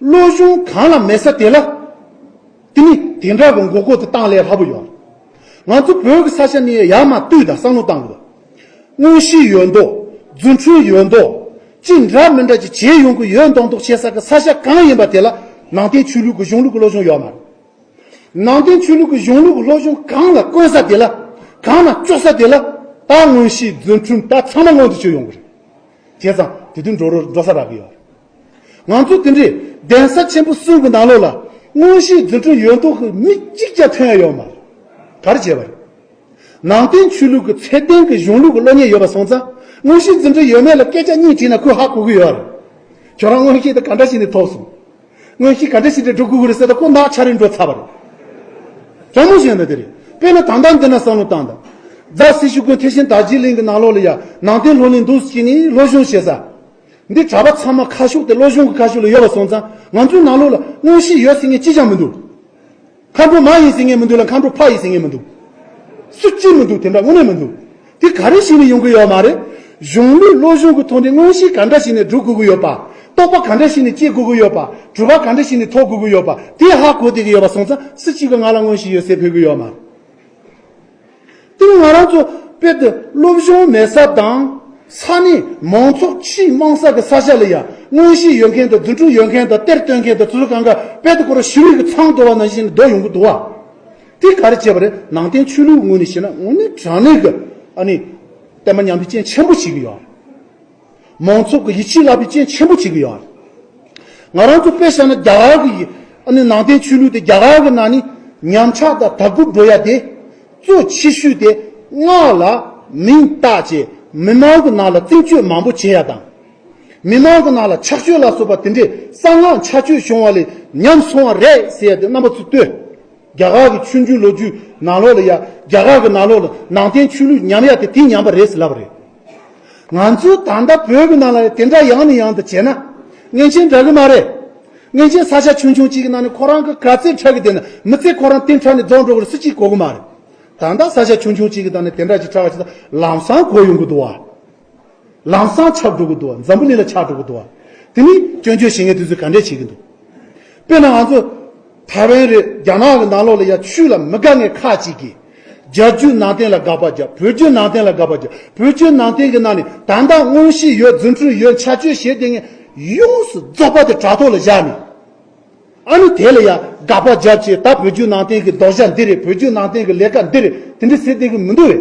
བློ་གཞུང་གང་ལ་མེད་ས་དེ་ལ། དེ་ནི་དེ་འདྲ་གི་མགོ་སྐོར་དུ་བཏང་ལས་སླ་པོ་ཡོད། ང་ཚོ་བོད་ཀྱི་ས་ཆ་ནི་ཡར་མ་བཏུས་དང་བསམ་བློ་བཏང་དགོས། དངོས་གཞི་ཡོད་མདོག་རྫུན་འཕྲུལ་ཡོད་མདོག་ཅི་འདྲ་མི་འདྲ་ཅིག་བྱས་ཡོང་གི་ཡོད་མདོག་མདོག་བྱེད་ས་ཀྱི་ས་ཆ་གང་ཡིན་པ་དེ་ལ་ནང་བསྟན་ཆོས་ལུགས་ཀྱི་གཞུང་ལུགས་ཀྱི་བློ་གཞུང་ཡོད་མ་རེད། ནང་བསྟན་ཆོས་ལུགས་ཀྱི་གཞུང་ལུགས་ཀྱི་བློ་གཞུང་གང་ལ་བཀོལ་ས་དེ་ལ། གང་ལ་གཅོག་ས་དེ་ལ། ད་དངོས་གཞི་རྫུན་འཕྲུལ་ད་ཚང་མ་སྔོན་དུ་ཆུད་ཡོང་གི་རེད། བྱས་ཙང་དེ་དུས་འགྲོ་རུ་འགྲོ་ས་རག་གི་ཡོད། ང་ཚོས་དེ་འདྲའི་གདན་ས་ཆེན་པོ་གསུམ་གྱི་ནང་ལོགས་ལ་དངོས་གཞིའི་རྫུ་འཕྲུལ་ཡོད་མདོག་གི་མི་གཅིག་ཀྱང་ཐོན་ཡོད་མ་གར་བྱས་པ་རེད། ནང་བསྟན་ཆོས་ལུགས་ཀྱི་ཚད་ལྡན་གྱི་གཞུང་ལུགས་ཀྱི་བློ་ཉེ་ཡོད་པ་སོང་ཙང་དངོས་གཞིའི་རྫུ་འཕྲུལ་ཡོད་མེད་ལ་སྐད་ཆ་གཉིས་དྲིས་ན་ཁོས་ཧ་གོ་གི་ཡོད་རེད། ཁྱོད་རང་དངོས་གཞི་དེ་ག་འདྲ་ཞིག་ནས་ཐོབ་སོང། དངོས་གཞི་ག་འདྲ་ཞིག་དེ་སྒྲུབ་དགོས་ཀྱི་རེད་ཟེར་ད་ཁོ་ནག་ཆ་རེ་འགྲོ་ཚར་བ་རེད། ཟབ་མོ་ཞིག་ཡོད་ན་དེ་རེད། དཔེར་ན་ད་ལྟ་འདི་ན་བསམ་བློ་བཏང་ད། རྫ་སེ་ཤུལ་དགོན་དེ་བཞིན་དར་རྗེ་གླིང་གི་ནང་ལོགས་ལ་ཡང་ནང་བསྟན་ལྷོ་གླིང་འདུག་ཅེས་ནས་བློ་གཞུང་བྱེད་ས། འདི་གྲྭ་པ་ཚང་མ་ཁ་ཤུགས་དེ་བློ་གཞུང་གི་ཁ་ཤུགས་ལ་ཡོད་པ་སོང་ཙང་ང་ཚོའི་ནང་ལུགས་ལ་དངོས་གཞི་ཡོད་ཟེར་ངེས་ཅི་ཅང་མི་འདུག་མཁའ་འགྲོ་མ་ཡིན་ཟེར་ངེས་མི་འདུག་ལ་མཁའ་འགྲོ་ཕ་ཡིན་ཟེར་ངེས་མི་འདུག་སུ་གཅིག་མི་འདུག་དེ་འདྲ་དངོས་གནས་མི་འདུག་དེ་ག་རེ་ཞིག་ནས་ཡོང་གི་ཡོད་མ་རེད་གཞུང་ལུགས་བློ་གཞུང་གི་ཐོག་ནས་དངོས་གཞི་ག་འདྲ་ཞིག་ནས་སྒྲུབ་དགོས་ཀྱི་ཡོད་པ་རྟོགས་པ་ག་འདྲ་ཞིག་ནས་སྐྱེ་དགོས་ཀྱི་ཡོད་པ་གྲུབ་པ་ག་འདྲ་ཞིག་ནས་ཐོབ་དགོས་ཀྱི་ཡོད་པ་དེ་ཧ་གོ་བསྡད་ཀྱི་ཡོད་པ་སོང་ཙང་སུ་གཅིག་གི་ང་ལ་དངོས་གཞི་ཡོད་ཟེར་ཕོད་ཀྱི་ཡོད་མ། དེ་ལ་ང་རང་ཚོ་དཔེར་དུ་སློབ་སྦྱོང་མེད་ས་དང། ས་གནས་མང་ཚོགས་ཆེས་དམངས་ས་གི་ས་ཆ་ལ་ཡང་དངོས་གཞི་ཡོད་མཁན་དང་རྫུན་དྲུག་ཡོད་མཁན་དང་གཏེར་སྟོན་མཁན་དང་ཚུར་གང་ག་དཔལ་དུ་འཁོར་བ་ཞི་བའི་གི་ཚང་དོར་བ་ནང་བཞིན་ནི་བདོག་ཡོང་གི་འདུག་བ། དེ་ག་རེ་བྱས་པ་རེད་ནང་བསྟན་ཆོས་ལུགས་ངོས་ནས་བཤད་ན་ངོ་ནི་དྲང་གནས་གི་ཨ་ནི་བསྟན་པ་ཉམས་པའི་རྐྱེན་ཆེན་པོ་བྱེད་གི་ཡོད། མང་ཚོགས་ཀྱི་ཡིད་ཆེས་བརླག་པའི་རྐྱེན་ཆེན་པོ་བྱེད་ཀྱི་ཡོད། ང་རང་ཚོ་དཔེ་བྱས་ན་རྒྱ་གར་གྱི་ནང་བསྟན་ཆོས་ལུགས་དེ་རྒྱ་གར་གྱི་ནང་ནས་ཉམས་ཆག་དང་དར་རྒུད་འགྲོ་ཡ་དེ། གཙོ་ཆེ་ཤོས་དེ་སྔགས་ལ་མིང་བཏགས་ཀྱིས་མི་མང་གི་ནང་ལ་རྩིང་སྤྱོད་མང་པོ་བྱེད་ཡ་དང། མི་མང་གི་ནང་ལ་ཆགས་སྤྱོད་ལ་སོགས་པ་དེ་འདྲའི་གསང་སྔགས་འཆལ་སྤྱོད་བྱུང་བ་ལས་ཉམས་སོང་བ་རེད་ཟེར་ཡ་དེ་རྣམ་པ་ཚོས་ལྟོས། རྒྱ་གར་གྱི་ཆོས་འབྱུང་ལོ་རྒྱུས་ནང་ལོགས་ལ་ཡ་རྒྱ་གར་གྱི་ནང་ལོགས་ལ་ནང་བསྟན་ཆོས་ལུགས་ཉམས་ཡ་དེ་དེ་ཉམས་པ་རེད་ཟེར་ལབ་པ་རེད། ང་ཚོས་ད་ལྟ་བོད་མི་རྣམས་ལ་དེ་འདྲ་ཡང་ནས་ཡང་དུ་བྱས་ན། ངེས་ཅན་འདྲ་གི་མ་རེད། ངེས་ཅན་ས་ཆ་ཆུང་ཆུང་གཅིག་གི་ནང་ནས་ཁོ་རང་གི་ག་ཚད་ཕྲ་གི་དེ་ནི་མི་ཚེ་ཁོ་རང་གཏན་ཕྲ་ནས་རྫོགས་འགྲོ་གི་རེད་སུ་གཅིག་གོ་གི་མ་རེད། ད་ལྟ་ས་ཆ་ཆུང་ཆུང་གཅིག་གི་ནང་ནས་དེ་འདྲ་ཅིག་ཕྲ་བ་ཆེ་ད་ལམ་སང་གོ་ཡོང་གི་འདུག་བ། ལམ་སང་ཆགས་འགྲོ་གི་འདུག་བ་འཛམ་བུ་གླིང་ལ་ཆགས་འགྲོ་གི་འདུག་བ། དེ་མིན་སྐྱོན་བརྗོད་བྱེད་མཁན་དེ་ཚོས་ག་འདྲས་བྱེད་ཀྱི་འདུག། དཔེར་ན་ང་ཚོ་ཐའེ་ཝན་རེད་རྒྱ་ནག་གི་ནང་ལོགས་ལ་ཡ་ཆུས་ལ་མི་དགའ་ངས་ཁ་ཅིག་གིས། རྒྱ་བརྒྱུད་ནང་བསྟན་ལ་དགག་པ་རྒྱབ་བོད་བརྒྱུད་ནང་བསྟན་ལ་དགག་པ་རྒྱབ་བོད་བརྒྱུད་ནང་བསྟན་གྱི་ནང་ནས་དག་མདངས་དངོས་གཞི་ཡོད་རྫུ་འཕྲུལ་ཡོད་འཆལ་སྤྱོད་བྱེད་དེ་ངས་ཡོངས་སུ་རྫོགས་པ་དེ་དྲ་ཐོག་ལ་བཞག་ནས་ཨ་ནི་དེ་ལ་ཡང་དགག་པ་རྒྱབ་ཅེས་ད་བོད་བརྒྱུད་ནང་བསྟན་གྱི་ལྡོག་བཞག་འདི་རེད་བོད་བརྒྱུད་ནང་བསྟན་གྱི་ལས་ཀ་འདི་རེད་དེ་འདྲ་ཟེར་བསྡད་ཀྱི་མི་འདུག་བས།